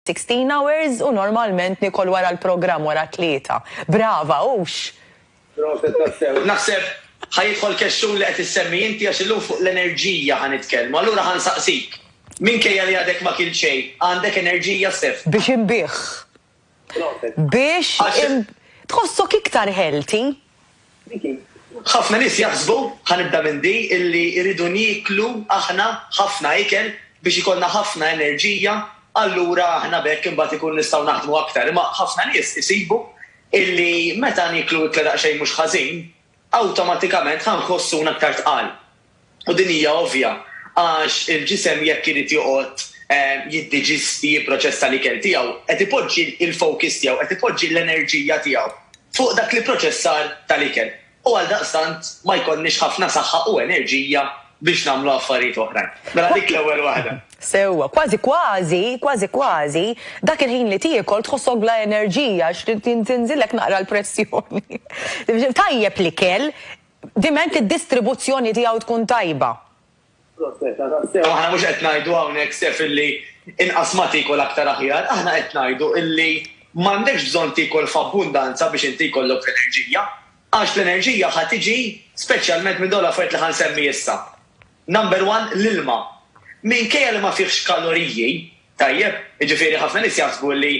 Sixteen hours u normalment nikol wara l-programm wara t-tlieta. Brava, hux? Proset tassew. Naħseb ħa jidħol kexxun li qed issemmi inti għax illum fuq l-enerġija ħa nitkellmu. Allura ħa nsaqsik, minkejja li għadek ma kilt xejn, għandek enerġija, Stef? Biex inbigħ. Proset. Biex. Għax. Tħossok iktar healthy? Ħafna nies jaħsbu, ħa nibda minn di, illi rridu nieklu aħna ħafna ikel biex ikollna ħafna enerġija, allura aħna b'hekk imbagħad ikun nistgħu naħdmu aktar. Imma ħafna nies isibu illi meta nieklu ikla daqsxejn mhux ħażin, awtomatikament ħa nħossuna aktar tqal. U din hija ovvja, għax il-ġisem jekk irid joqgħod jiddiġisti, jipproċessa l-ikel tiegħu, qed ipoġġi l-focus tiegħu, qed ipoġġi l-enerġija tiegħu fuq dak l-ipproċessar tal-ikel. U għaldaqstant ma jkollniex ħafna saħħa u enerġija biex nagħmlu affarijiet oħrajn. Mela dik l-ewwel waħda. Sewwa. Kważi kważi, kważi kważi, dak il-ħin li tiekol tħossok bla enerġija għax trid tinżillek naqra l-pressjoni. Tajjeb l-ikel, diment id-distribuzzjoni tiegħu tkun tajba. Proprjetà tassew, aħna mhux qed ngħidu hawnhekk sef illi inqas ma tiekol aktar aħjar, aħna qed ngħidu illi m'għandekx bżonn tiekol f'abbundanza biex inti jkollok l-enerġija, għax l-enerġija ħa tiġi speċjalment minn dawn l-affarijiet li ħa nsemmi issa. Number one, l-ilma. Minkejja li ma fihx kaloriji, tajjeb, jiġifieri ħafna nies jaħsbu li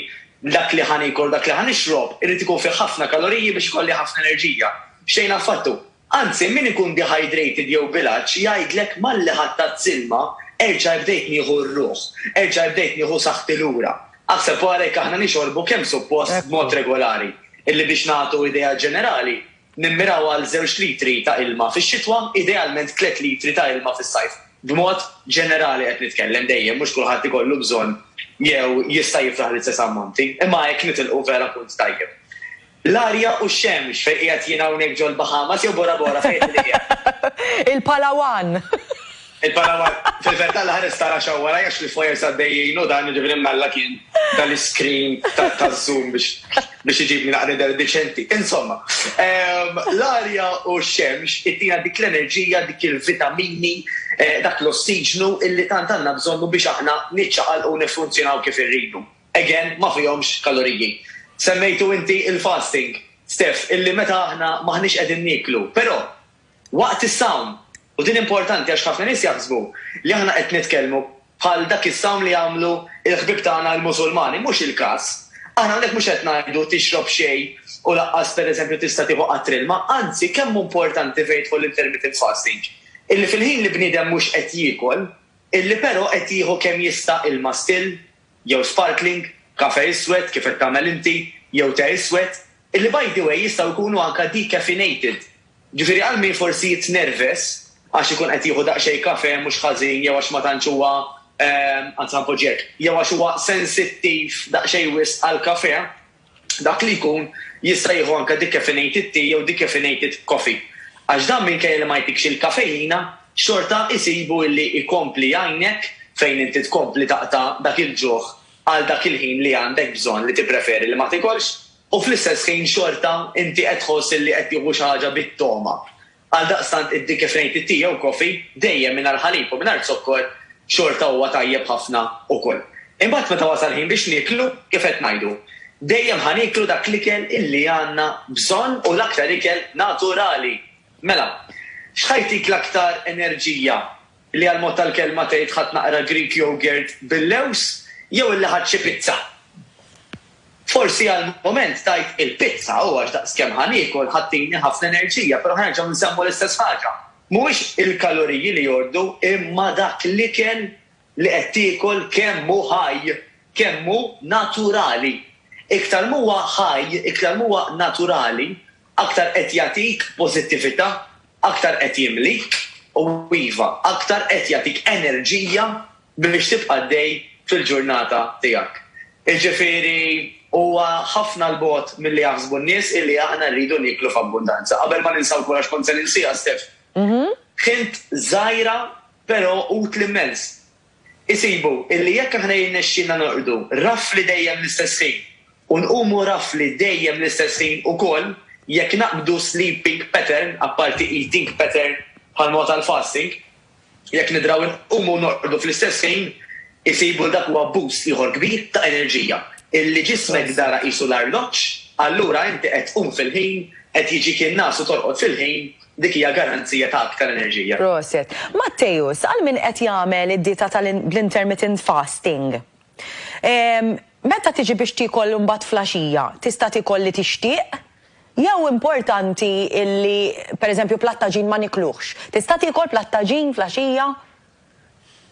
dak li ħa niekol, dak li ħa nixrob, irid ikun fih ħafna kaloriji biex ikolli ħafna enerġija. Xejn affattu. Anzi, min ikun dehydrated jew bil-għatx jgħidlek malli ħattat s-silma, erġa' bdejt nieħu r-ruħ, erġa' bdejt nieħu saħħti lura. Aħseb wara jekk aħna nixorbu kemm suppost b'mod regolari, illi biex nagħtu idea ġenerali, Nimmiraw għal żewġ litri ta' ilma fix-xitwa, idealment tliet litri ta' ilma fis-sajf. B'mod ġenerali qed nitkellem, dejjem mhux kulħadd ikollu bżonn jew jista' jiflaħ l-istess ammonti, imma hekk nitilqu vera punt tajjeb. L-arja u x-xemx, fejn qiegħed jien hawnhekk ġol-Bahamas jew Bora Bora fejn qed qiegħed? Il-Palawan! Il-Panama, fil-verità l-ħares ta' Russia huwa rajjax li f'wires għaddejjin u dan jiġifieri m'Alla kien ta l-iscreen taż-zoom biex iġibni naqra nidher deċenti. Insomma, l-arja u x-xemx ittina dik l-enerġija, dik il-vitamini, dak l-ossiġnu illi tant għandna bżonnu biex aħna niċċaqalqu u niffunzjonaw kif irridu. Again, ma fihomx kaloriji. Semmejtu inti il-fasting, Steph, illi meta aħna m'aħniex qegħdin nieklu, però, Waqt is-sawm. U din importanti għax ħafna nies jaħsbu li aħna qed nitkellmu bħal dak is-sawm li jagħmlu l-ħbieb tagħna l-Musulmani. Mhux il-każ. Aħna hawnhekk mhux qed ngħidu tixrob xejn u lanqas pereżempju tista' tieħu qatr ilma. Anzi, kemm hu importanti fejn jidħol l-intermittent fasting, illi fil-ħin li bniedem mhux qed jiekol, illi però qed jieħu kemm jista' ilma still, jew sparkling, kafè iswed, kif qed tagħmel inti, jew te iswed, illi by the way jistgħu jkunu anke decaffeinated. Ġifieri għal min forsi jitnerves għax ikun qed jieħu daqsxejn kafè mhux ħażin jew għax ma tantx huwa, anzi ħa npoġġi hekk, jew għax huwa sensittiv daqsxejn wisq għall-kafè, dak li jkun jista' jieħu anke decaffeinated tea jew decaffeinated coffee. Għax dan minkejja li ma jtikx il-kafejina, xorta jsibu illi jkompli jgħinek fejn inti tkompli taqta' dak il-ġuħ għal dak il-ħin li għandek bżonn li tippreferi li ma tikolx. U fl-istess ħin xorta inti qed tħoss illi qed tieħu xi ħaġa bit-togħma. Għaldaqstant id-di kif ngħid it-ti jew coffee, dejjem mingħajr ħalib u mingħajr zokkor, xorta huwa tajjeb ħafna ukoll. Imbagħad meta wasal ħin biex nieklu, kif qed ngħidu, dejjem ħa nieklu dak l-ikel illi għandna bżonn u l-aktar ikel naturali. Mela, x'ħa jtik l-aktar enerġija? li għall-mod tal-kelma tgħid ħadt naqra Greek yogurt bil-lewż jew illi ħadt xi pizza. Forsi għall-mument tgħid il-pizza u għax daqskemm ħa niekol ħa ttini ħafna enerġija, però ħa nerġgħu nsemmu l-istess ħaġa. Mhuwiex il-kaloriji li jordu imma dak l-ikel li qed tiekol kemm hu ħaj, kemm hu naturali. Iktar m'huwa ħaj, iktar m'huwa naturali aktar qed jagħtik pożittività, aktar qed jimlik u, iva, aktar qed jagħtik enerġija biex tibqa' għaddej fil-ġurnata tiegħek. Jiġifieri, huwa ħafna 'l bogħod milli jaħsbu n-nies illi aħna rridu nieklu f'abbundanza. Qabel ma ninsa wkoll, għax kont se ninsiha, Steph, ħint żgħira però utli mmens. Isibu illi jekk aħna jirnexxilna norqdu rafli dejjem l-istess ħin u nqumu rafli dejjem l-istess ħin ukoll jekk naqbdu sleeping pattern, apparti eating pattern bħalma huwa tal-fasting, jekk nidraw inqumu u norqdu fl-istess ħin, isibu li dak huwa boost ieħor kbir ta' enerġija, illi ġismek dara qisu l-arloġġ, allura inti qed tqum fil-ħin, qed jiġik in-ngħas u torqod fil-ħin, Dik hija garanzija ta' aktar enerġija. Prosit. Matteus, għal min qed jagħmel id-dieta tal bl-intermittent fasting, ehm, meta tiġi biex tiekol imbagħad flaxija, tista' tiekol li tixtieq? Jew importanti illi pereżempju platt ta' ġin ma nikluhx. Tista' tiekol platt ta' ġin flaxija?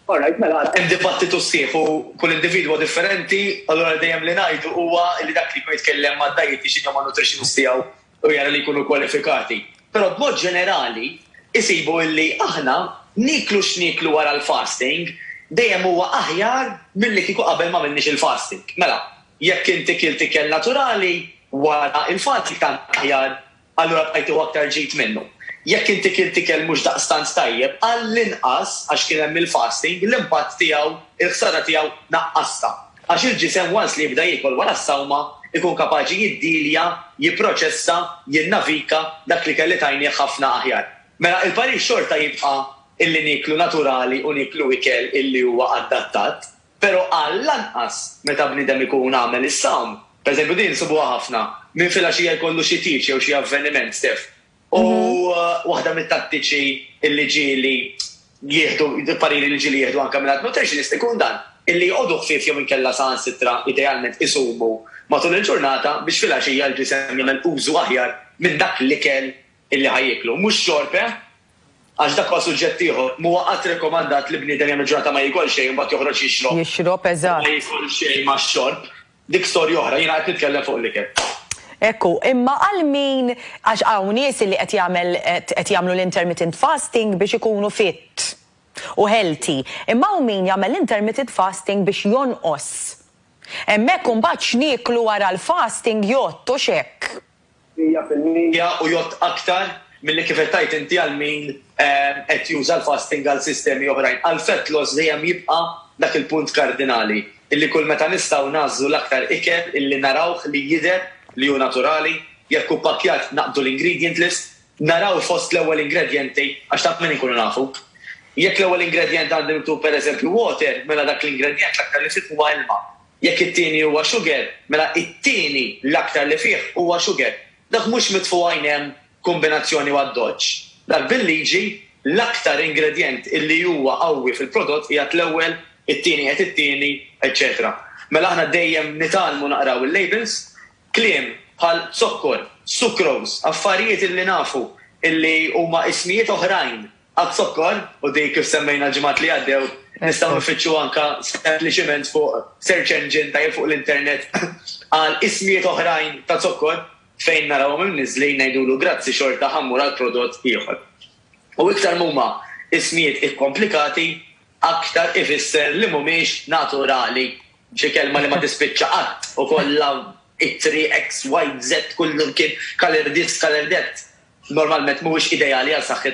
All right, mela, hemm dibattitu sħiħ u kull individwu huwa differenti, allura dejjem li ngħidu huwa li dak li jkun jitkellem mad-dietician jew man-nutritionist tiegħu u jara li jkunu kwalifikati, però b'mod ġenerali jsibu li aħna nieklu x'nieklu wara l-fasting dejjem huwa aħjar milli kieku qabel ma għamilniex il-fasting. Mela, jekk inti kilt ikel naturali wara l-fasting tant aħjar, allura bqajt tieħu aktar ġid minnu. Jekk inti kilt ikel mhux daqstant tajjeb, għall-inqas għax kien hemm il-fasting, l-impatt tiegħu, il-ħsara tiegħu naqqastha. għax il-ġisem once li jibda jiekol wara s-sawma jkun kapaċi jiddilja, jipproċessa, jinnavika dak li kelli tajnieh ħafna aħjar. Mela il-parir xorta jibqa' illi nieklu naturali u nieklu ikel illi huwa adattat, pero' għall-anqas meta bniedem ikun għamel is-sawm, per eżempju din insibuha ħafna, minn filgħaxija jkollu xi tieġ jew xi avveniment, Steph, U waħda mit-tattiċi li ġieli jieħdu, pariri li ġieli jieħdu anke mingħand nutritionist ikun dan, illi jqogħdu ħfief jew inkella saħansitra idealment isumu matul il-ġurnata biex filgħaxija l-ġisem jagħmel użu aħjar minn dak l-ikel illi ħa jieklu. Mhux xorb, eh? Għax dak huwa suġġett ieħor. M'huwa qatt rekomandat li bniedem jagħmel ġurnata ma jiekol xejn u mbagħad joħroġ jixrob. Jixrob, eżatt. Ma jiekol xejn max-xorb. Dik storja oħra, jiena qed nitkellem fuq l-ikel. Hekk hu. Imma għal min, għax hawn nies li qed jagħmel qed jagħmlu l-intermittent fasting biex ikunu fit u healthy. Imma hawn min jagħmel l-intermittent fasting biex jonqos. Hemmhekk imbagħad x'nieklu wara l-fasting jgħodd, hux hekk? mija fil-mija u jgħodd aktar milli kif qed tgħid inti għal min qed juża l-fasting għal sistemi oħrajn. Għal fat loss dejjem jibqa' dak il-punt kardinali, illi kull meta nistgħu nagħżlu l-aktar ikel illi narawh li jidher li hu naturali, jekk hu ppakkjat naqbdu l-ingredient list, naraw fost l-ewwel ingredjenti għax ta' min inkunu nafu. Jekk l-ewwel ingredjent għandi miktub pereżempju water, mela dak l-ingredjent l-aktar li fih huwa ilma. Jekk it-tieni huwa xuger, mela it-tieni l-aktar li fih huwa xuger. Dak mhux mitfu' għajn hemm kumbinazzjoni u addoċċ. Dak bil-liġi, l-aktar ingredjent illi huwa qawwi fil-prodott qiegħed l-ewwel, it-tieni qiegħed it-tieni, eċċetera. Mela aħna dejjem nitgħallmu naqraw il-labels. Kliem bħal zokkor, sucrose, affarijiet illi nafu illi huma ismijiet oħrajn Għaz-zokkor, u dik kif semmejna l-ġimgħat li għaddew, nistgħu nfittxu anke sempliċiment fuq search engine ta' jew fuq l-internet għal ismijiet oħrajn ta' zokkor, fejn narawhom imniżżlin ngħidulu grazzi xorta ħa mmur għal prodott ieħor. U iktar m'huma ismijiet ikkomplikati, aktar ifisser li m'humiex naturali, xi kelma li ma tispiċċa qatt u kollha ittri eks, wajt, zett, kullum kien, kalerdiz, kalerdett, normalment m'huwiex ideali għal saħħitna.